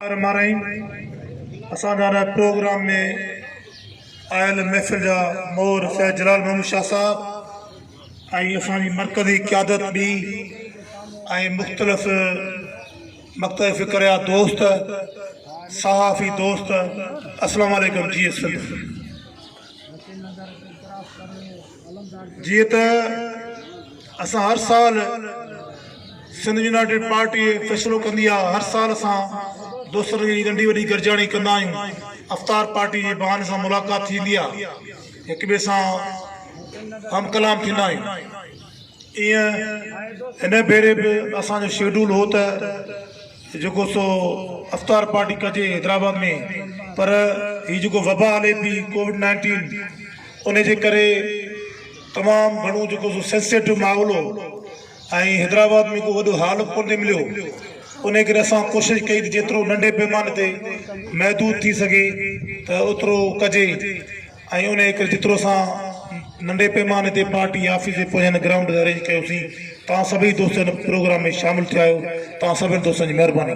رحمان رحيم اسان جا هن پروگرام ۾ آيل محفل جا مور سيد جلال محمد شاھ صاحب ۽ اسان جي مرڪزي قيادت ٻي ۽ مختلف مڪتب فڪر جا دوست صحافي دوست اسلام عليڪم جي ايس سنڌ جيئن ته اسان هر سال سنڌ يونائيٽيڊ پارٽي فيصلو ڪندي آ هر سال اسان دوستن جي ننڍي وڏي گڏجاڻي ڪندا آهيون افطار پارٽي جي بهاني سان ملاقات ٿيندي آ هڪ ٻئي سان هم ڪلام ٿيندا آهيون ائين هن ڀيري به اسان جو شيڊول هو ته جيڪو سو افطار پارٽي ڪجي حيدرآباد ۾ پر هي جيڪو وبا هلي پي ڪووڊ نائنٽين ان جي ڪري تمام گهڻو جيڪو سو سينسيٽو ماحول هو ۽ حيدرآباد ۾ ڪو وڏو هال به ڪونه مليو ان ڪري اسان ڪوشش ڪئي ته جيترو ننڍي پيماني تي محدود ٿي سگهي ته اوترو ڪجي ۽ ان ڪري جيترو اسان ننڍي پيماني تي پارٽي آفيس جي پويان هن گرائونڊ تي ارينج ڪيوسين توهان سڀئي دوست هن پروگرام ۾ شامل ٿيا آهيو توهان سڀن دوستن جي مهرباني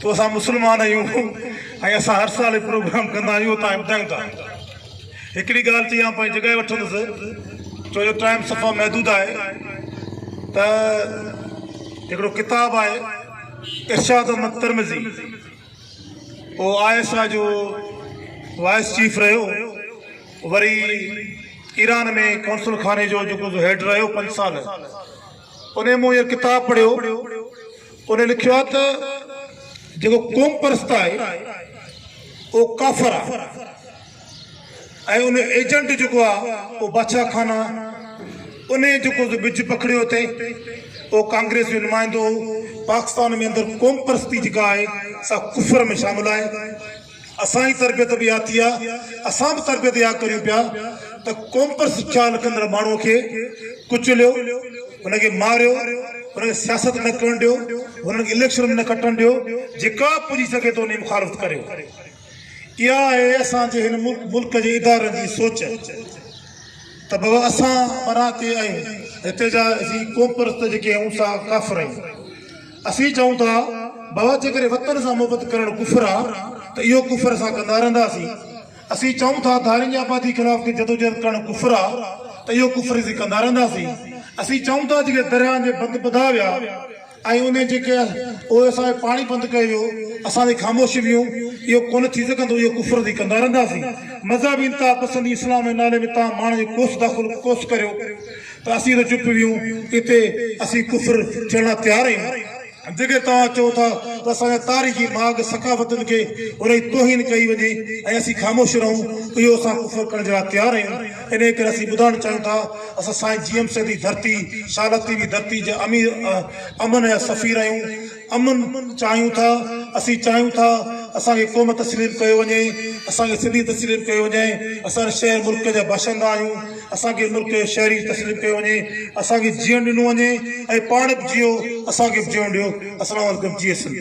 تو اسان مسلمان آهيون ۽ اسان هر سال هي پروگرام ڪندا آهيون اتان هي ٻڌايون ٿا هڪڙي ڳالهه چئي آئون پنهنجي جڳهه وٺندس ڇو جو ٽائيم صفا محدود آهي ته هڪڙو ڪتاب آهي ارشاد احمد ترمزي او آء ايس آء جو وائس چيف رهيو وري ايران ۾ قونصل خاني جو جيڪو هيڊ رهيو پنج سال انهن مون اهو ڪتاب پڙهيو. انهن لکيو آهي ته جيڪو قوم پرست آهي اهو ڪافر آهي ۽ ان جو ايجنٽ جيڪو آهي اهو باچا خان آهي. انهيء جيڪو ٻج پکڙيو اٿئي اهو ڪانگريس جو نمائندو هو. پاڪستان ۾ اندر قوم پرستي جيڪا آهي سا ڪفر ۾ شامل آهي. اسان جي تربيت به اها ٿي آ، اسان به تربيت اها ڪريون پيا ته قومپر سکيا لکندڙ ماڻهوء کي ڪچليو، هن کي ماريو، هن کي سياست نه ڪرڻ ڏيو، هنن کي اليڪشن ۾ نه کٽڻ ڏيو، جيڪا به پڄي سگهي ٿو ان جي مخالفت ڪريو. اها آهي اسان جي هن ملڪ جي ادارن جي سوچ ته بابا اسان مران تي آهيون، هتي جا اسين قومپرست جيڪي آهيون سا ڪافر آهيون. اسين چئون ٿا بابا جيڪڏهن وطن سان محبت ڪرڻ ڪفر آ ته اهو ڪفر اسان ڪندا رهنداسين اسين چئون ٿا ڌارين جي آبادي خلاف ڪي جدوجهد ڪرڻ ڪفر آ ته اهو ڪفر اسين ڪندا رهنداسين اسين چئون ٿا جيڪي درياهن جي بند ٻڌا ويا ۽ انهي جيڪي اهي اسان جو پاڻي بند ڪيو ويو اسان تي خاموش ويون اهو ڪونه ٿي سگهندو اهو ڪفر اسين ڪندا رهنداسين مذهبي انتها پسندي اسلام جي نالي ۾ تهان ماڻهن جو ڪوس داخل ڪوس ڪريو تاثير چپ ويون اتي اسين ڪفر ٿيڻ لاء تيار آهيون جيڪي توهان چئو ٿا ته اسان جا تاريخي ماڳ ثقافتن کي وري توهين ڪئي وڃي ۽ اسين خاموش رهون اهو اسان ڪفر ڪرڻ جي لاء تيار آهيون انهي ڪري اسين ٻڌائڻ چاهيون ٿا اسان سائين جي ايم سيد جي ڌرتي شال تي وي ڌرتي جا امير امن جا سفير آهيون امن چاهيون ٿا، اسين چاهيون ٿا اسان کي قوم تسليم ڪيو وڃي، اسان کي سنڌي تسليم ڪيو وڃي، اسان هن شهر ملڪ جا باشندا آهيون، اسان کي ملڪ جو شهري تسليم ڪيو وڃي، اسان کي جيئڻ ڏنو وڃي ۽ پاڻ به جيئو، اسان کي به جيئڻ ڏيو، اسلام عليڪم، جيئي سنڌ.